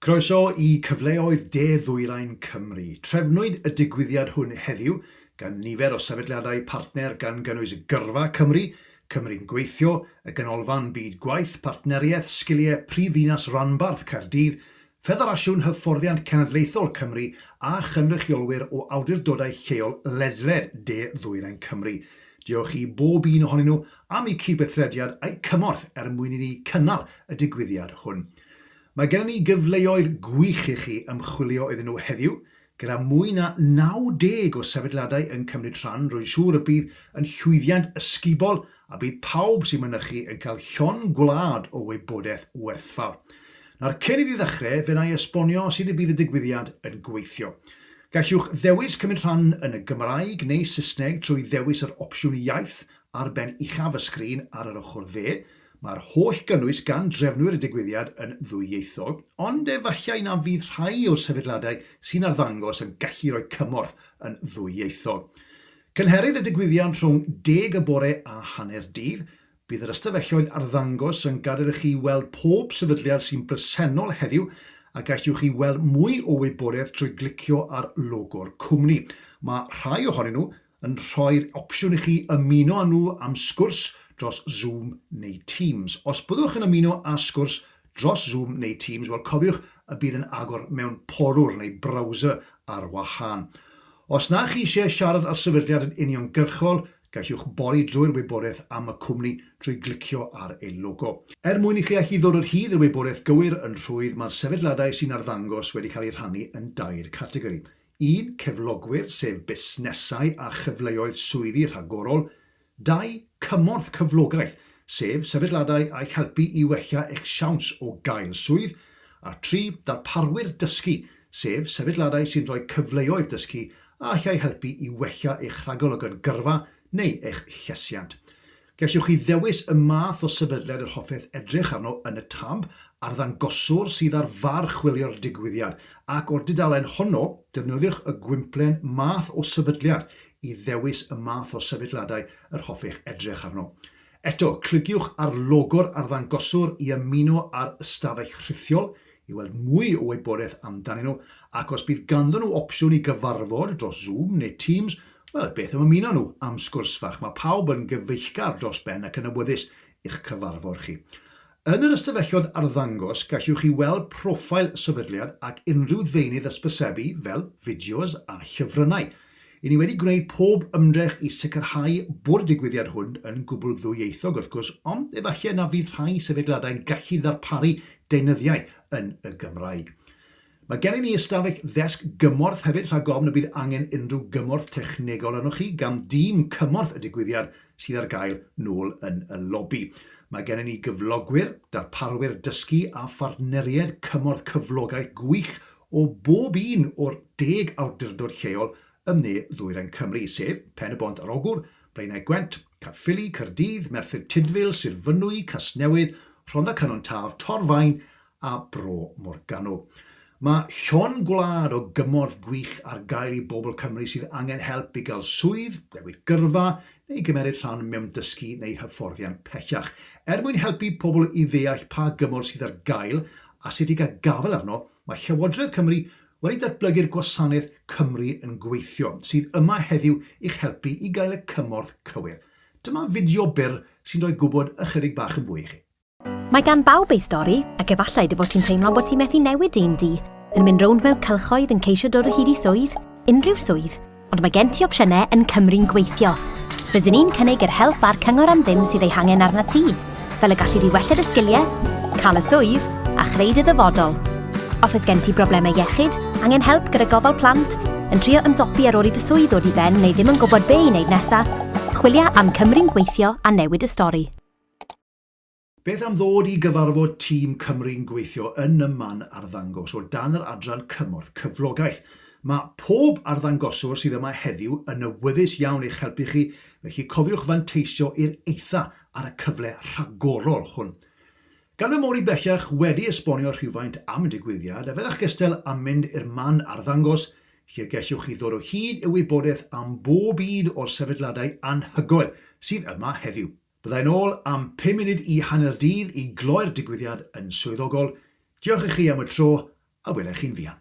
Croeso i Cyfleoedd De-ddwyrain Cymru. Trefnwyd y digwyddiad hwn heddiw gan nifer o sefydliadau partner gan gynnwys Gyrfa Cymru, Cymru'n Gweithio, y Ganolfan Byd Gwaith, Partneriaeth Sgiliau Prifddinas Ranbarth Caerdydd, Ffederasiwn Hyfforddiant Cenedlaethol Cymru a chynrychiolwyr o awdurdodau lleol ledled De Ddwyrain Cymru. Diolch i bob un ohonyn nhw am eu cydweithrediad a'u cymorth er mwyn i ni cynnal y digwyddiad hwn. Mae gennym ni gyfleoedd gwych i chi ymchwilio iddyn nhw heddiw, Gyda mwy na 90 o sefydliadau yn cymryd rhan, rwy'n siŵr y bydd yn llwyddiant ysgubol a bydd pawb sy'n mynychu yn cael llond gwlad o wybodaeth werthfawr. Nawr, cyn i ni ddechrau, fe wna i esbonio sut y bydd y digwyddiad yn gweithio. Gallwch ddewis cymryd rhan yn y Gymraeg neu Saesneg trwy ddewis yr opsiwn iaith ar ben uchaf y sgrin ar yr ochr dde, Mae'r holl gynnwys gan drefnwyr y digwyddiad yn ddwyieithog, ond efallai na fydd rhai o'r sefydliadau sy'n arddangos yn gallu rhoi cymorth yn ddwyieithog. Cynhelir y digwyddiad rhwng deg y bore a hanner dydd. Bydd yr ystafelloedd arddangos yn gadael i chi weld pob sefydliad sy'n bresennol heddiw, a gallwch chi weld mwy o wybodaeth trwy glicio ar logo'r cwmni. Mae rhai ohonyn nhw yn rhoi'r opsiwn i chi ymuno â nhw am sgwrs dros Zoom neu Teams. Os byddwch yn ymuno â sgwrs dros Zoom neu Teams, wel cofiwch y bydd yn agor mewn porwr neu browser ar wahân. Os na chi eisiau siarad â'r sefydliad yn uniongyrchol, gallwch bori drwy'r wybodaeth am y cwmni drwy glicio ar ei logo. Er mwyn i chi allu ddod o hyd i'r wybodaeth gywir yn rhwydd, mae'r sefydliadau sy'n arddangos wedi cael eu rhannu yn dair categori. un. Cyflogwyr, sef busnesau a chyfleoedd swyddi rhagorol, dau. Cymorth cyflogaeth, sef sefydladau a'ch helpu i wella eich siawns o gael swydd, a tri. Darparwyr dysgu, sef sefydladau sy'n rhoi cyfleoedd dysgu a allai helpu i wella eich rhagolygon gyrfa neu eich llesiant. Gellwch chi ddewis y math o sefydliad yr hoffech edrych arno yn y tab Arddangoswr sydd ar far chwilio'r digwyddiad, ac o'r dudalen honno, defnyddiwch y gwymplen Math o Sefydliad i ddewis y math o sefydliadau yr hoffech edrych arno. Eto, cliciwch ar logo'r Arddangoswr i ymuno â'r ystafell rhithiol i weld mwy o wybodaeth amdanyn nhw, ac os bydd ganddyn nhw opsiwn i gyfarfod dros Zoom neu Teams, wel, beth am ymuno nhw am sgwrs fach. Mae pawb yn gyfeillgar dros ben ac yn awyddus i'ch cyfarfod chi. Yn yr ystafelloedd arddangos, gallwch chi weld profile y sefydliad ac unrhyw ddeunydd ysbysebu fel fideos a llyfrynnau. Ry'n ni wedi gwneud pob ymdrech i sicrhau bo'r digwyddiad hwn yn gwbl ddwyieithog wrth gwrs, ond efallai na fydd rhai sefydliadau'n gallu ddarparu deunyddiau yn y Gymraeg. Mae gennym ni ystafell ddesg gymorth hefyd rhag ofn y bydd angen unrhyw gymorth technegol arnoch chi gan dîm cymorth y digwyddiad sydd ar gael nôl yn y lobi. Mae gennym ni gyflogwyr, darparwyr dysgu a phartneriaid cymorth cyflogaeth gwych o bob un o'r deg awdurdod lleol ym Ne Ddwyrain Cymru, sef, Pen-y-bont ar Ogwr, Blaenau Gwent, Caerffili, Caerdydd, Merthyr Tudful, Sir Fynwy, Casnewydd, Rhondda Cynon Taf, Torfaen a Bro Morgannwg. Mae llon gwlad o gymorth gwych ar gael i bobl Cymru sydd angen help i gael swydd, newid gyrfa neu gymeryd rhan mewn dysgu neu hyfforddiant pellach, er mwyn helpu pobl i ddeall pa gymorth sydd ar gael asetiig a gafael arno, mae Llywodraeth Cymru wedi datblygu'r gwasanaeth Cymru yn Gweithio, sydd yma heddiw i'ch helpu i gael y cymorth cywir. Dyma fideo byr sy'n rhoi gwybod ychydig bach yn fwy i chi. Mae gan bawb ei stori, ac efallai dy fod ti'n teimlo bod ti methu newid dim di, yn mynd rownd mewn cylchoedd yn ceisio dod o hyd i swydd, unrhyw swydd, Ond mae gen ti opsiynau yn Cymru'n Gweithio. Rydyn ni'n cynnig yr help a'r cyngor am ddim sydd ei hangen arnat ti, fel y gallu di wella dy sgiliau, cael y swydd, a chreu dy ddyfodol. Os oes gen ti broblemau iechyd, angen help gyda gofal plant, yn trio ymdopi ar ôl i dy swydd ddod i ben neu ddim yn gwybod be i wneud nesaf, chwilia am Cymru'n Gweithio a newid y stori. Beth am ddod i gyfarfod tîm Cymru'n gweithio yn y man arddangos o dan yr adran Cymorth Cyflogaeth? Mae pob arddangoswr sydd yma heddiw yn awyddus iawn eich helpu chi, felly cofiwch fanteisio i'r eitha ar y cyfle rhagorol hwn. Gan fy mod i bellach wedi esbonio rhywfaint am y digwyddiad, a fyddech gystal â mynd i'r man arddangos, lle y gellwch chi ddod o hyd i wybodaeth am bob un o'r sefydliadau anhygoel sydd yma heddiw. Byddai'n ôl am pum munud i hanner dydd i gloi'r digwyddiad yn swyddogol. Diolch i chi am y tro a wela i chi'n fuan.